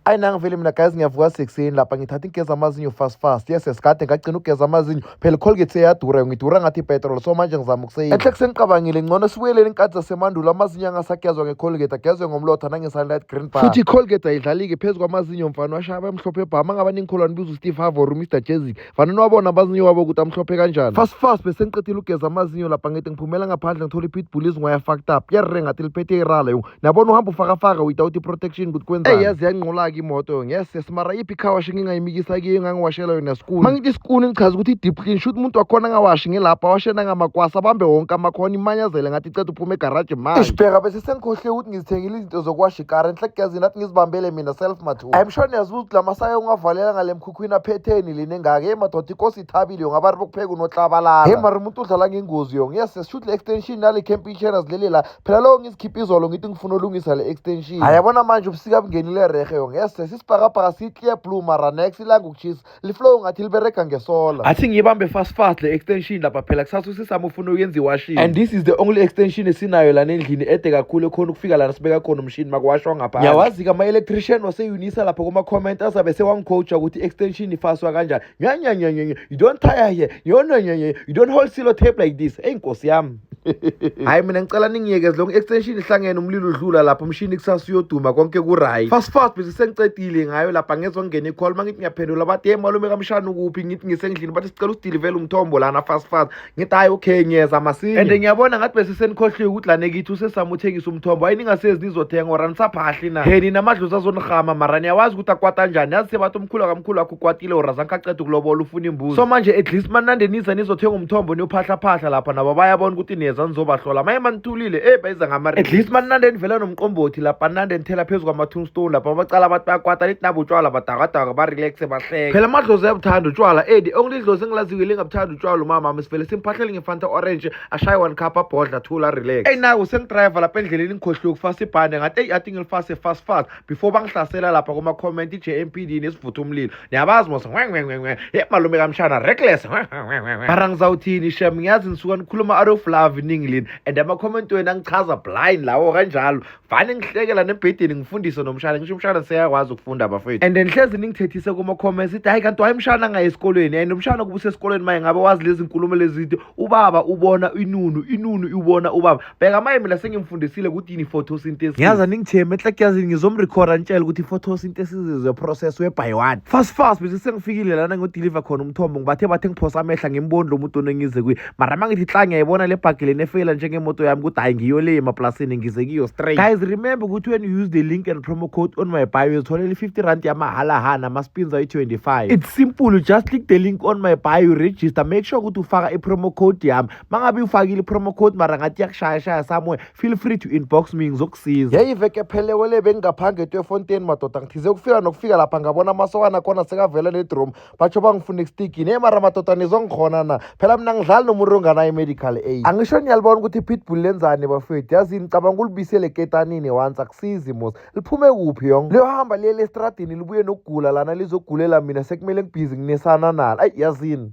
ayi nangivele mina guys ngiyavuka sekuseni lapha ngithatha ingigeza amazinyo fast fast yes sikade ngagcina ukugeza amazinyo phela icolgate seyadura ngidura ngathi ipetrol so manje ngizama ukuseyini enhle kusengicabangile ngcono sibuyelele inkathi zasemandulo amazinyo angasagezwa ngecolgate agezwe ngomlotha nangesunlight green bar futhi icolgate ayidlalike phezu kwamazinyo mfana washaba emhlophe bhama ngaba ningikholwane biza usteve havor umr jezik fanele wabona amazinyo wabo ukuthi amhlophe kanjani fast fast bese ngiqedile ukugeza amazinyo lapha ngide ngiphumela ngaphandle ngithola ipitbull izingwaya fucked up yarre ngathi liphethe irala nabona uhamba ufakafaka without i-protection ukuthi kwenzani eyi yaze yanqolaka imoto ngese simara iphi car wash engingayimikisa kiyo engangiwashela yona sikuni uma ngithi sikuni ngichaza ukuthi i-deep clean shuthi umuntu wakhona angawashi ngelapha washena ngamakwasa abambe wonke amakhona imanyazele ngathi iceda uphuma egaraji manje ishibheka bese sengikhohle ukuthi ngizithengile izinto zokuwasha ikara enhlekugezini nathi ngizibambele mina self mathu i'm sure niyazibuza ukuthi la masaya ungavalela ngale mkhukhwini aphetheni lini engaka hey madoda inkosi ithabile yo ngabari bokupheka unohlabalala hey mara umuntu udlala ngengozi yo ngiyase shuthi le extension nale camping channels leli la phela lowo ngizikhipha izolo ngithi ngifuna ulungisa le extension hayi yabona manje ubusika bungenile rehe yo ngese sisibhakabhaka siyi-clear blue mara nex ilanga ukuchisa liflow ngathi liberega ngesola athi ngiyibambe fast fast le extension lapha phela kusasa usisami ufuna uyenza iwashini and this is the only extension esinayo lana endlini ede kakhulu ekhona ukufika lana sibeka khona umshini makuwashwa ngapha ngiyawazi-ke ama-electrician waseunisa lapha kuma-comment azabe sewangicoacha ukuthi i-extension ifaswa kanjani nya nya nya nya you don't tire here you no nya nya you don't hold silo tape like this hey nkosi yami hayi mina ngicela ningiyekeze lonke extension ihlangene umlilo udlula lapho umshini kusasa uyoduma konke kuright fast fast bese sengicedile ngayo lapha ngezongena icall mangithi ngiyaphendula bathi hey malume kamshana ukuphi ngithi ngisendlini bathi sicela usidilivele umthombo lana fast fast ngithi hayi okay ngiyeza masinya and ngiyabona ngathi bese senikhohliwe ukuthi lane kithi usesamuthengisa umthombo hayi ningasezi nizothenga ora nisaphahli na heni namadlozi azonirhama mara niyawazi ukuthi akwata njani yazi sebathi umkhulu wakamkhulu wakho ukwatile ora zange aqeda ukulobola ufuna imbuzi so manje at least manande niza nizothenga umthombo niyophahlaphahla lapha nabo bayabona ukuthi niyeza nizobahlola maye manithulile eyi bayiza ngamari at least manande nivela nomqombothi lapha nande nithela phezu kwama-tombstone lapha bacala abantu bayakwata nithi nabo utshwala badakadaka barelaxe bahleke phela amadlozi ayabuthanda utshwala edi idlozi engilaziyo lingabuthanda utshwala umama mama sivele simphahlele ngefanta orange ashaye one cup abhodla thula relax eyi nayo sengidriver lapha endleleni ngikhohliwe ukufasa ibhande ngathi eyi athi ngilifase fast fast before bangihlasela lapha kuma-comment i-jmpd nesivutha umlilo niyabazi mos ngwengwengwengwe ye malume kamshana reckless mara ngizawuthini shem ngiyazi nisuka nikhuluma out of love iningi lini and ama-comment wenu angichaza blind lawo kanjalo vane ngihlekela nebhedeni ngifundise nomshana ngisho umshana seyakwazi ukufunda bafethu and ngihlezi ningithethise kuma-comments ithi hhayi kanti wayemshana ngaye esikolweni and umshana kubusa esikolweni maye ngabe wazi lezi nkulumo lezide ubaba ubona inunu inunu iwubona ubaba bheka maye mina sengimfundisile ukuthi yini i-photosynthesis ngiyaza ningitheme enhlakuyazini ngizomrecorda ngitshela ukuthi i-photosynthesis is a process whereby one fast fast bese sengifikile lana ngodeliver khona umthombo ngibathe bathe ngiphosa amehla ngimboni lo muntu onengize kuye mara mangithi tla ngiyayibona le bhagi lena efeyila njengemoto yami ukuthi hayi ngiyo le emaplasini ngize kiyo straight guys remember ukuthi when you use the link and promo code on my bio uzitholela i-50 rand yamahala hana ama-spins ayi-25 it's simple you just click the link on my bio register make sure ukuthi ufaka i-promo code yami mangabe ufakile i-promo code mara ngathi yakushayashaya somewhere feel free to inbox me ngizokusiza yeyi veke phelewele bengingaphange etwefontein madoda ngithize ukufika nokufika lapha ngabona amasokana khona sekavela nedrom batsho bangifuna ekustigini eyi mara madoda nizwa ngikhona na phela mina ngidlali nomuntu onganayo i-medical aid angisho niyalibona ukuthi i-pitbull lenzani bafethu yazini cabanga ulibisele ketanini once akusizi mos liphume kuphi yong liyohamba liyele estradini libuye nokugula lana lizogulela mina sekumele ngibhizi nginesana nalo ayi yazini